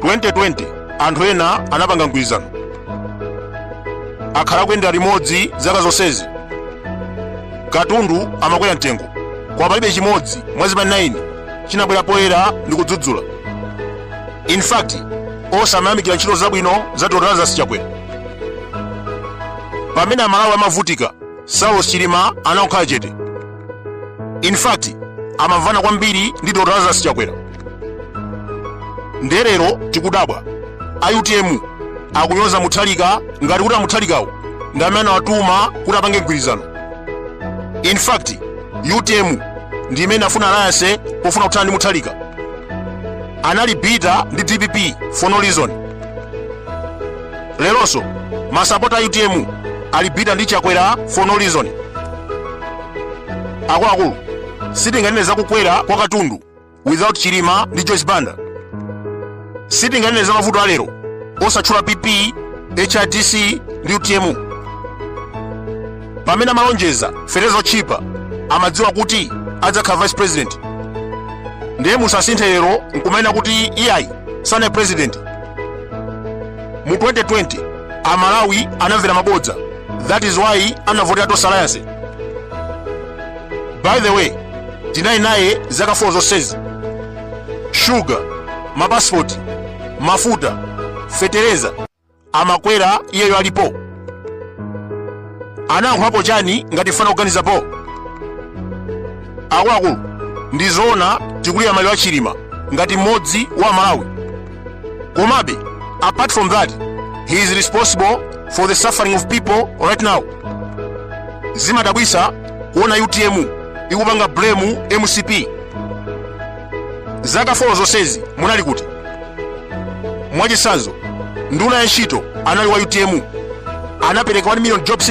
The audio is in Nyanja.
2020 anthu ena anapanga mgwirizano akhala kuyendera limodzi zaka zonsezi katundu amakwera mtengo koma palibe chimodzi mwa zipani 9 chinabwera poyera ndi kudzudzula in fact onse amayamikira ntchito zabwino za dr lazarus chakwera pamene amalawi amavutika saulos chilima ankakhala chete in fact amamvana kwambiri ndi dr lazarus chakwera nde lero tikudabwa a utm akunyoza muthalika ngati kuti amuthalikawo ndi amene anawatuma kuti apange mgwirizano in fact utm ndi imene inkafuna alliance pofuna kuthana ndi muthalika anali bitter ndi dpp for no reason leronso masapota a utm ali bitter ndi chakwera for no reason akuluakulu sitinganene za kukwera kwa katundu without chilima ndi joyce banda sitinganene za mavuto alero osatchula pp hrdc ndi utm pamene amalonjeza fetereza otchipa amadziwa kuti adzakhala vice president ndiye musasinthe lero nkumanena kuti iyayi sanali president mu 2020 amalawi anamvera mabodza that is why anavotera tonse alliance by the way tinali naye zaka 4 zonsezi shuga mapasipoti mafuta fetereza amakwera iyeyo alipo anayankhulapo chani ngati fana kuganizapo akuluakulu ndizoona tikulira maliro a chilima ngati mmodzi wa amalawi komabe apart from that he is responsible for the suffering of people right now zimadabwisa kuona utm ikupanga blame mcp zaka 4 zonsezi munali kuti mwachisanzo nduna ya ntchito anali wa utm anapereka 1 million jobs